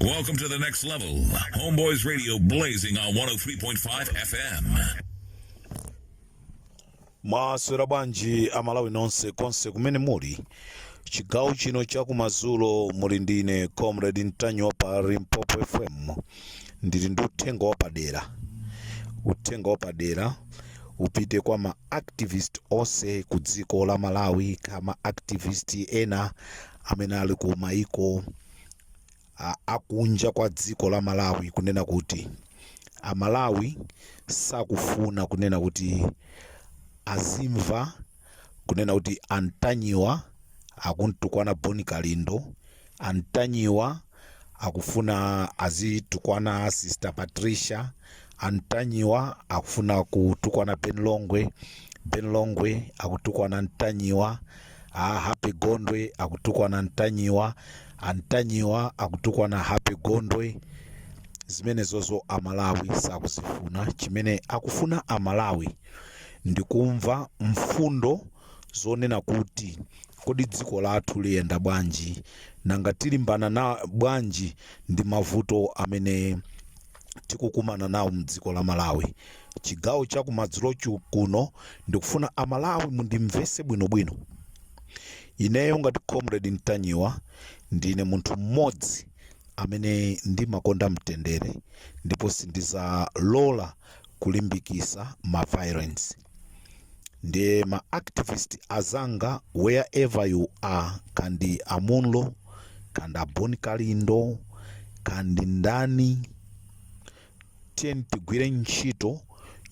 Welcome to the next level. Homeboys Radio blazing on 103.5 FM. mwaswera bwanji amalawi nonse konse kumene muli chigawo chino cha kumadzulo muli ndine comrade Ntanyiwa pa limpopo fm ndili ndi uthenga wapadera uthenga wapadera upite kwa ma activist onse ku dziko la malawi ka ma activist ena amene ali ku maiko a- akunja kwa dziko la malawi kunena kuti amalawi sakufuna kunena kuti azimva kunena kuti antanyiwa akumtukwana boni kalindo antanyiwa akufuna azitukwana sister patricia antanyiwa akufuna kutukwana ben longwe ben longwe akutukwana ntanyiwa a happy gondwe akutukwana ntanyiwa antanyiwa akutukwana happy gondwe zimenezozo amalawi sakuzifuna chimene akufuna amalawi ndikumva mfundo zonena kuti, Kodi dziko lathu liyenda bwanji? Nanga tilimbana nawo bwanji ndi mavuto amene tikukumana nawo mdziko la Malawi? Chigawo cha kumadzulochi kuno ndikufuna Amalawi mundimvese bwino bwino. Ineyo ngati Comrade Ntanyiwa ndine munthu mmodzi amene ndimakonda mtendere ndipo sindizalola kulimbikisa ma violence. ndiye ma activist azanga wherever you are kaya ndi amunlo kaya ndi aboni kalindo kaya ndi ndani tiyeni tigwire ntchito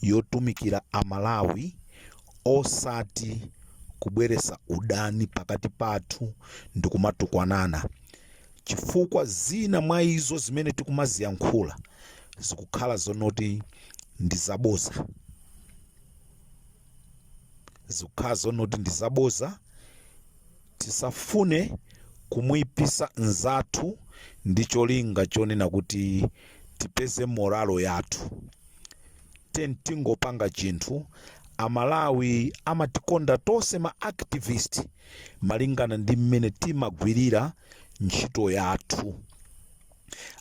yotumikira amalawi osati kubweresa udani pakati pathu ndi kumatukwanana chifukwa zina mwa izo zimene tikumaziyankhula zikukhala zonoti ndi zaboza zikukhala zonoti ndi zaboza tisafune kumuyipisa nzathu ndi cholinga chonena kuti tipeze moralo yathu tiyeni tingopanga chinthu amalawi amatikonda tonse ma activist malingana ndi mmene timagwirira ntchito yathu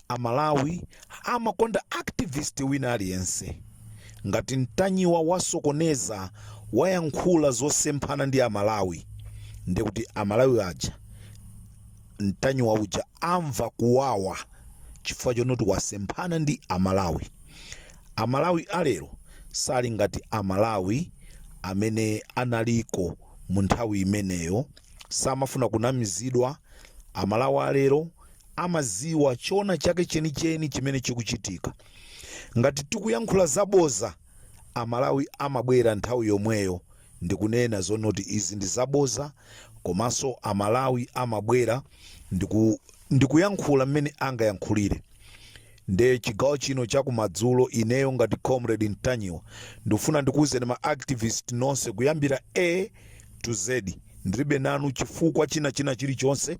Amalawi amakonda activist wina aliyense. Ngati Ntanyiwa wasokoneza, wayankhula zosemphana ndi Amalawi, ndiye kuti Amalawi aja Ntanyiwa uja amva kuwawa chifukwa chonoti wasemphana ndi Amalawi. Amalawi a lero sali ngati Amalawi amene analiko mu nthawi imeneyo. Samafuna kunamizidwa. Amalawi a lero amaziwa chona chake chenicheni chimene chikuchitika ngati tikuyankhula zaboza amalawi amabwera nthawi yomweyo ndikunena zonoti izi ndi zaboza komanso amalawi amabwera ndikuyankhula mmene angayankhulire nde chigawo chino chakumadzulo ineyo ngati comrade ntanyiwa ndifuna ndikuwuzeni ma activist nonse kuyambira a to z ndilibe nanu chifukwa china china chilichonse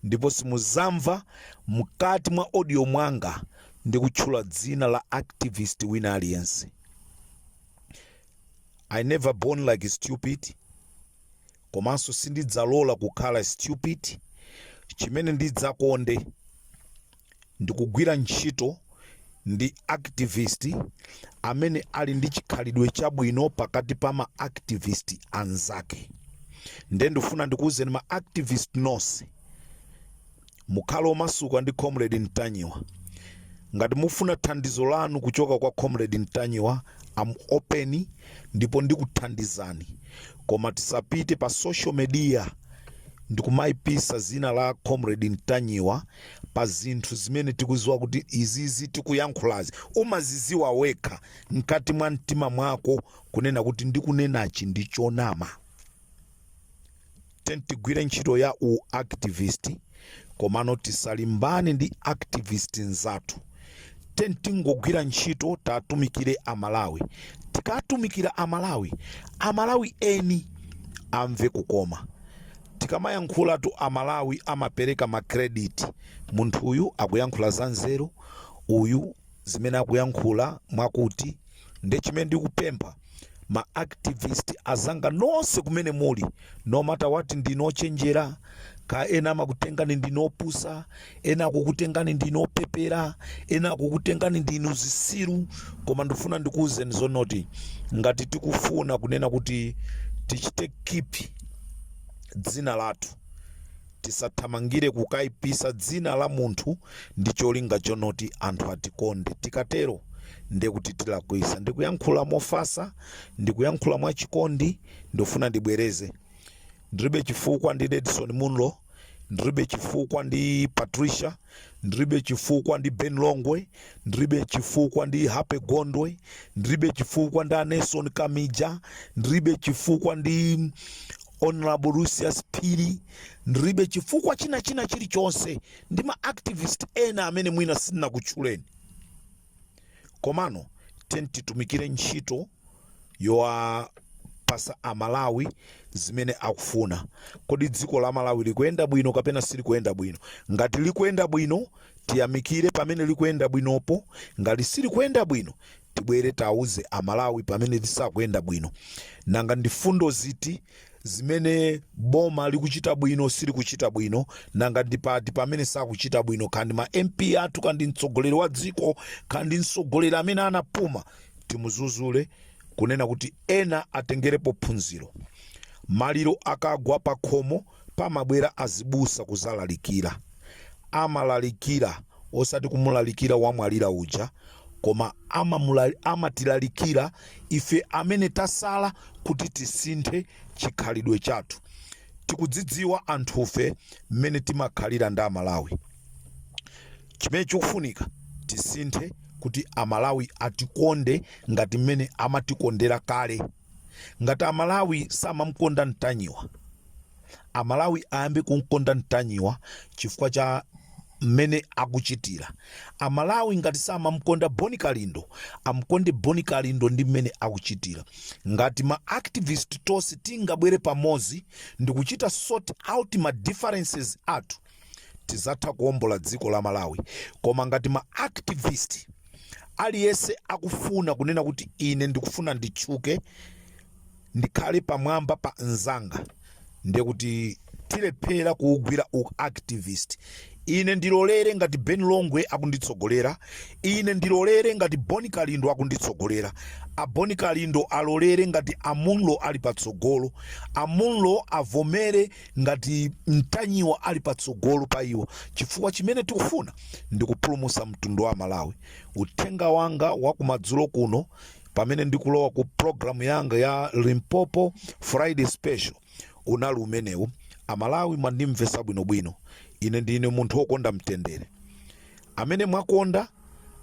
ndipo simuzamva mkati mwa audio mwanga ndikutchula dzina la activist wina aliyense i never born like stupid komanso sindidzalola kukhala stupid chimene ndidzakonde Ndikugwira ntchito ndi activist amene ali ndi chikhalidwe chabwino pakati pa ma activist anzake. Nde ndifuna ndikuuzeni ma activist nonse, mukhale omasuka ndi Comrade Ntanyiwa. Ngati mufuna thandizo lanu kuchoka kwa Comrade Ntanyiwa, I'm open ndipo ndikuthandizani. Koma tisapite pa social media ndikumaipisa dzina la Comrade Ntanyiwa. pa zinthu zimene tikuziwa kuti izizi tikuyankhulazi umaziziwa wekha mkati mwa mtima mwako kunena kuti ndikunenachi ndi chonama tiyeni tigwire ntchito ya u activist komano tisalimbane ndi activist nzathu tiyeni tingogwira ntchito tatumikire amalawi tikatumikira amalawi amalawi eni amve kukoma tikamayankhulatu amalawi amapereka makrediti munthu uyu akuyankhula za nzeru uyu zimene akuyankhula mwakuti nde chimene ndikupempha ma activist azanga nonse kumene muli no matter what ndinu ochenjera ka ena amakutengani ndinu opusa ena akukutengani ndinu opepera ena akukutengani ndinu zisiru koma ndifuna ndikuwuzeni zonoti ngati tikufuna kunena kuti tichite keep dzina lathu Tisathamangire kukaipisa dzina la munthu ndi cholinga chonoti anthu atikonde. Tikatero nde kuti tilakwisa. Ndikuyankhula mofasa, ndikuyankhula mwa chikondi, ndufuna ndibwereze. Ndiribe chifukwa ndi Redson Munlo, ndiribe chifukwa ndi Patricia, ndiribe chifukwa ndi Ben Longwe, ndiribe chifukwa ndi Happy Gondwe, ndiribe chifukwa ndi Aneson Kamija, ndiribe chifukwa ndi Hon Lucius Phiri ndiribe chifukwa china china chilichonse ndi ma activist ena amene mwina sinakutchuleni komano tiyeni titumikire ntchito yowapasa amalawi zimene akufuna kodi dziko la malawi likuyenda bwino kapena silikuyenda bwino ngati likuyenda bwino tiyamikire pamene likuyenda bwinopo ngati silikuyenda bwino tibwere tauze amalawi pamene lisakuyenda bwino nanga ndi fundo ziti zimene boma likuchita bwino silikuchita bwino nanga ndi pati pamene sakuchita bwino kaya ndi ma mp athu kaya ndi mtsogoleri wa dziko kaya ndi mtsogoleri amene anapuma timudzudzule kunena kuti ena atengerepo phunziro maliro akagwa pakhomo pamabwera azibusa kuzalalikira amalalikira osati kumulalikira wamwalira uja koma amamula- amatilalikira ife amene tasala kuti tisinthe chikhalidwe chathu tikudzidziwa anthufe mmene timakhalira ndi amalawi chimene chikufunika tisinthe kuti amalawi atikonde ngati mmene amatikondera kale Ngati Amalawi samamkonda Ntanyiwa, Amalawi ayambe kumkonda Ntanyiwa chifukwa cha mmene akuchitira. Amalawi ngati samamkonda Bon Kalindo, amkonde Bon Kalindo ndi mmene akuchitira. Ngati ma activist tonse tingabwere pamodzi ndikuchita sort out ma differences athu, tizatha kuombola dziko la malawi koma ngati ma activist aliyense akufuna kunena kuti ine ndikufuna nditchuke ndikhale pamwamba pa nzanga ndiye kuti tilephera kuugwira u activist ine ndilolere ngati ben longwe akunditsogolera ine ndilolere ngati bon kalindo akunditsogolera a bon kalindo alolere ngati a munlo ali patsogolo a munlo avomere ngati ntanyiwa ali patsogolo pa iwo chifukwa chimene tikufuna ndi kupulumusa mtundu wa amalawi uthenga wanga wa kumadzulo kuno pamene ndikulowa ku programu yanga ya limpopo friday special unali umenewu amalawi mwandimvesa bwinobwino ine ndine munthu wokonda mtendere Amene mwakonda,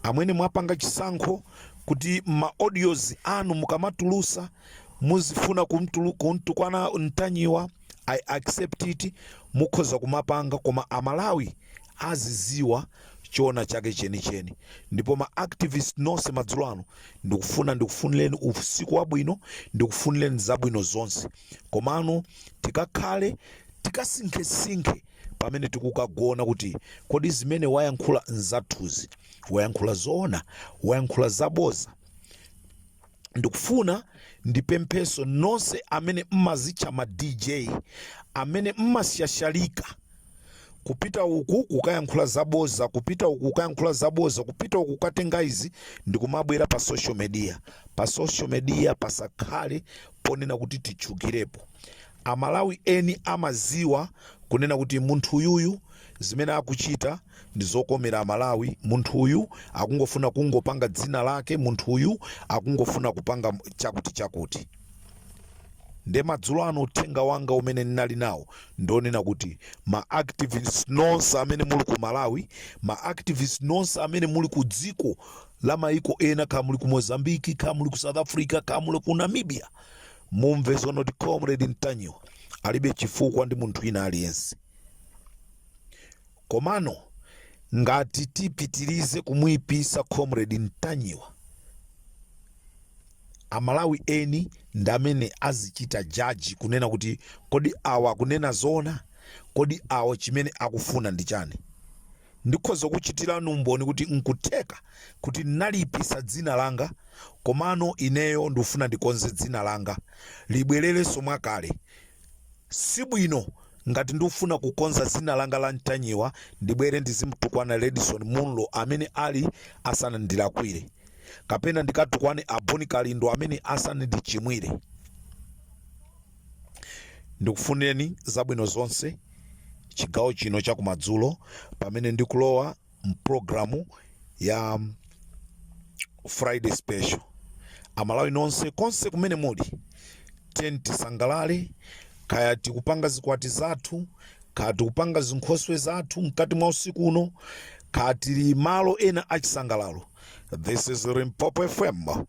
amene mwapanga chisankho kuti ma audios anu mukamatulusa muzifuna kumtulu kumtukwana ntanyiwa i accept it mukhoza kumapanga koma amalawi aziziwa choona chake chenicheni ndipo ma activist nonse madzulo ano ndikufuna ndikufunileni usiku wabwino ndikufunileni zabwino zonse komano tikakhale tikasinkhesinkhe pamene tikukagona kuti kodi zimene wayankhula nzathuzi wayankhula zoona wayankhula zaboza ndikufuna ndipempheso nonse amene mmazitcha ma dj amene mmasyashalika kupita uku kukayankhula zaboza kupita uku kukayankhula zaboza kupita uku kukatenga izi ndikumabwera pa social media pa social media pasakhale ponena kuti titchukirepo. Amalawi eni amaziwa kunena kuti munthu uyuyu zimene akuchita ndi zokomera Amalawi, munthu uyu akungofuna kungopanga dzina lake, munthu uyu akungofuna kupanga chakuti chakuti. Nde madzulo ano uthenga wanga umene ndinali nawo ndonena kuti ma activists nonse amene muli ku Malawi, ma activists nonse amene muli ku dziko la maiko ena kaya muli ku mozambique kaya muli ku south africa kaya muli ku namibia mumve zonoti comrade ntanyiwa alibe chifukwa ndi munthu ina aliyense komano ngati tipitirize kumuyipisa comrade ntanyiwa amalawi eni ndi amene azichita jaji kunena kuti kodi awa akunena zoona kodi awa chimene akufuna ndi chani Ndikhoza kukuchitirani umboni kuti n'kutheka kuti ndinaliipitsa dzina langa, komano ineyo ndifuna ndikonze dzina langa, libwererenso mwakale. Si bwino ngati ndikufuna kukonza dzina langa la Ntanyiwa ndibwere ndizimutukwana Redson Munlo amene ali asanandilakwire, kapena ndikatukwane a Bon Kalindo amene asanandichimwire. Ndikufunileni zabwino zonse chigawo chino cha kumadzulo pamene ndikulowa mprogramu ya Friday Special. Amalawi nonse konse kumene muli, tiyeni tisangalale kaya tikupanga zikwati zathu, kaya tikupanga zinkhoswe zathu mkati mwa usiku uno, kaya tili malo ena achisangalalo. This is Limpopo FM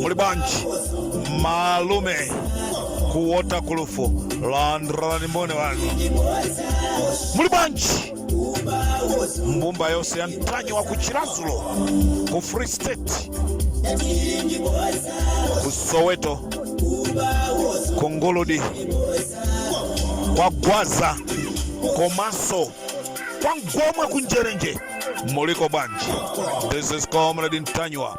muli bwanji malume ku waterkloof landirani mmbone wanu muli bwanji mbumba yonse ya ntanyiwa ku chiradzulu ku free state ku soweto ku nguludi kwa gwaza komanso kwa ngomwe ku njerenje muliko bwanji this is comrade ntanyiwa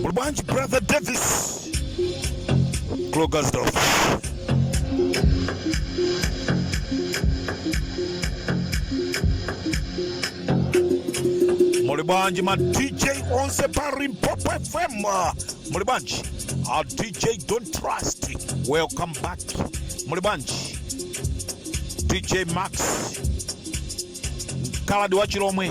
Muli bwanji brother Davis Krugersdorp Muli bwanji ma DJ onse pa Limpopo FM Muli bwanji a DJ don't trust welcome back Muli bwanji DJ Max Mkaladi wa Chilomwe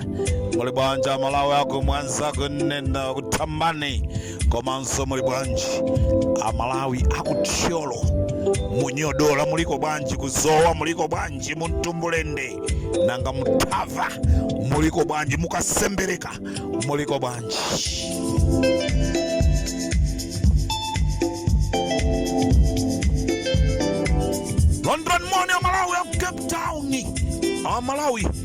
muli bwanji amalawi aku mwanza ku neno ku thambani komanso muli bwanji amalawi aku thyolo mu nyodola muliko bwanji ku zowa muliko bwanji muntumbulende nanga mu thava muliko bwanji mu kasembereka muliko bwanji landirani moni amalawi aku cape town amalawi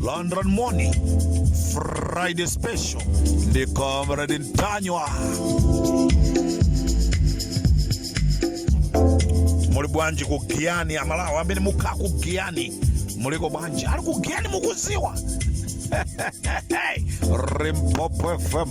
Landirani moni, Friday Special, ndi Comrade Ntanyiwa. Muli bwanji ku Giyani a Malawi, amene mukhala ku Giyani, muliko bwanji? Ali ku Giyani mukudziwa? Limpopo FM.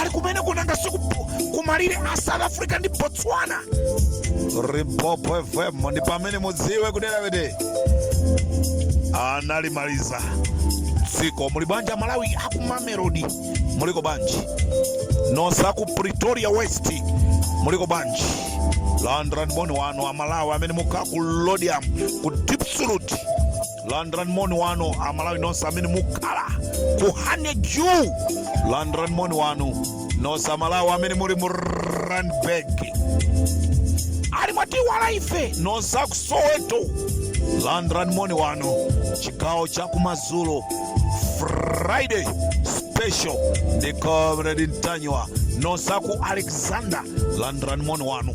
ali kumeneku nanga si kumalire a south africa ndi botswana limpopo fm ndi pamene mudziwe kudera kuti analimaliza dziko muli bwanji amalawi aku mamelodi muliko bwanji nonse aku pretoria west muliko bwanji landirani moni wanu amalawi amene mukhala ku laudium ku diepsloot landirani moni wanu amalawi nonse amene mukhala ku honeydew landirani moni wanu nonse amalawi amene muli mu randburg ali mwatiiwala ife nonse aku soweto landirani moni wanu chigawo cha kumadzulo friday special ndi comrade ntanyiwa nonse aku alexandra landirani moni wanu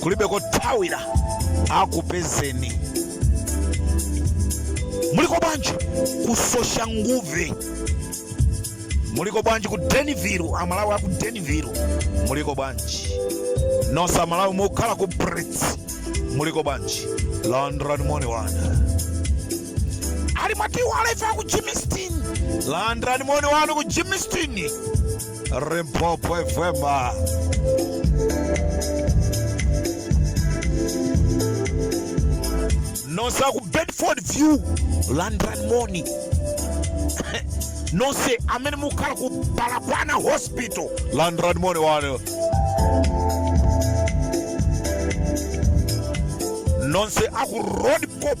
kulibe kothawira akupezeni muliko bwanji ku soshanguve muliko bwanji ku danville amalawi aku danville muliko bwanji nonse amalawi mukhala ku brits muliko bwanji landirani moni wanu ali mwatiiwala ife aku germiston landirani moni wanu ku germiston Limpopo FM. nonse aku bedfordview landirani moni nonse amene mukhala ku baragwanath hospital landirani moni wanu nonse aku roodepoort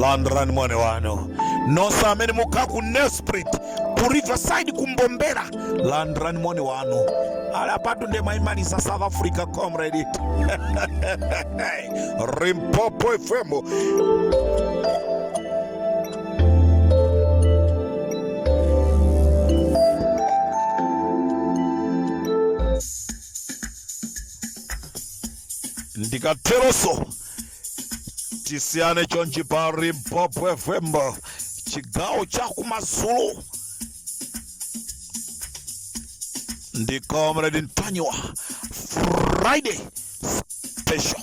landirani moni wanu nonse amene mukhala ku Nelspruit ku riverside ku Mbombela landirani moni wanu ali apatu ndiye mwaimaliza south africa comrade Limpopo fm ndikateromo tisiyane chonchi pa Limpopo fm chigawo cha kumadzulo ndi comrade ntanyiwa friday special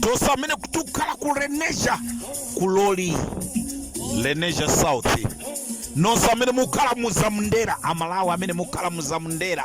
tonse amene tikukhala ku Lenasia ku Lawley Lenasia South nonse amene mukukhala muzamndera amalawi amene mukukhala muzamndera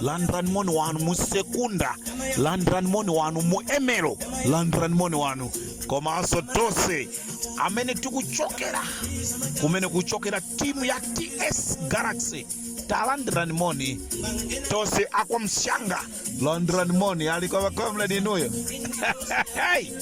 landirani moni wanu mu Secunda landirani moni wanu mu Ermelo landirani moni wanu komanso tonse amene tikuchokera kumene kuchokera timu ya ts galaxy talandirani moni tonse a Kwamhlanga landirani moni alikumva comrade inuyo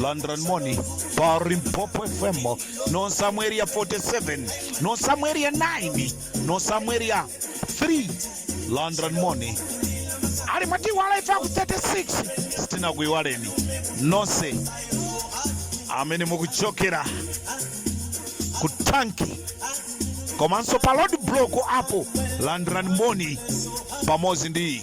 landran moni pa Limpopo fm nonse a mu Area 47 nonse a mu Area 9 nonse a mu Area 3 landran moni ali mwatiiwala ife aku 36 sitinakuiwaleni nonse amene mukuchokera ku tanki komanso pa road block apo landran moni pamodzi ndi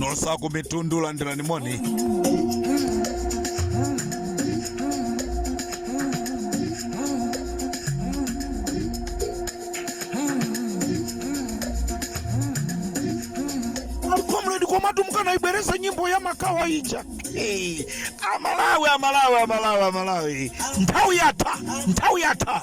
nonse a ku Mitundu landirani moni a comrade komatu mukanaibwereza nyimbo ya makawa ija Eh, amalawi amalawi amalawi amalawi nthawi yatha nthawi yatha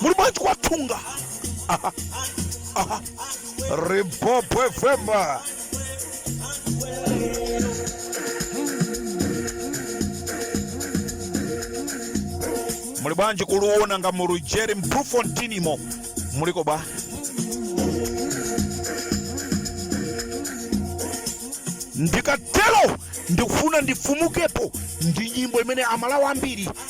muli bwanji kwa thunga aha aha Limpopo FM muli bwanji kuluona nga mu rugeri mpufontinimo muliko bwa ndikatero ndikufuna ndifumukepo ndi nyimbo imene amalawi ambiri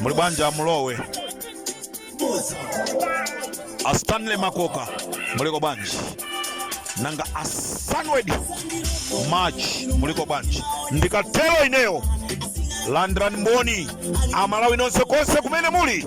muli bwanji a mulowe a stanley makoka muliko bwanji nanga a sanwed march muliko bwanji ndikatero ineyo landirani moni amalawi nonse konse kumene muli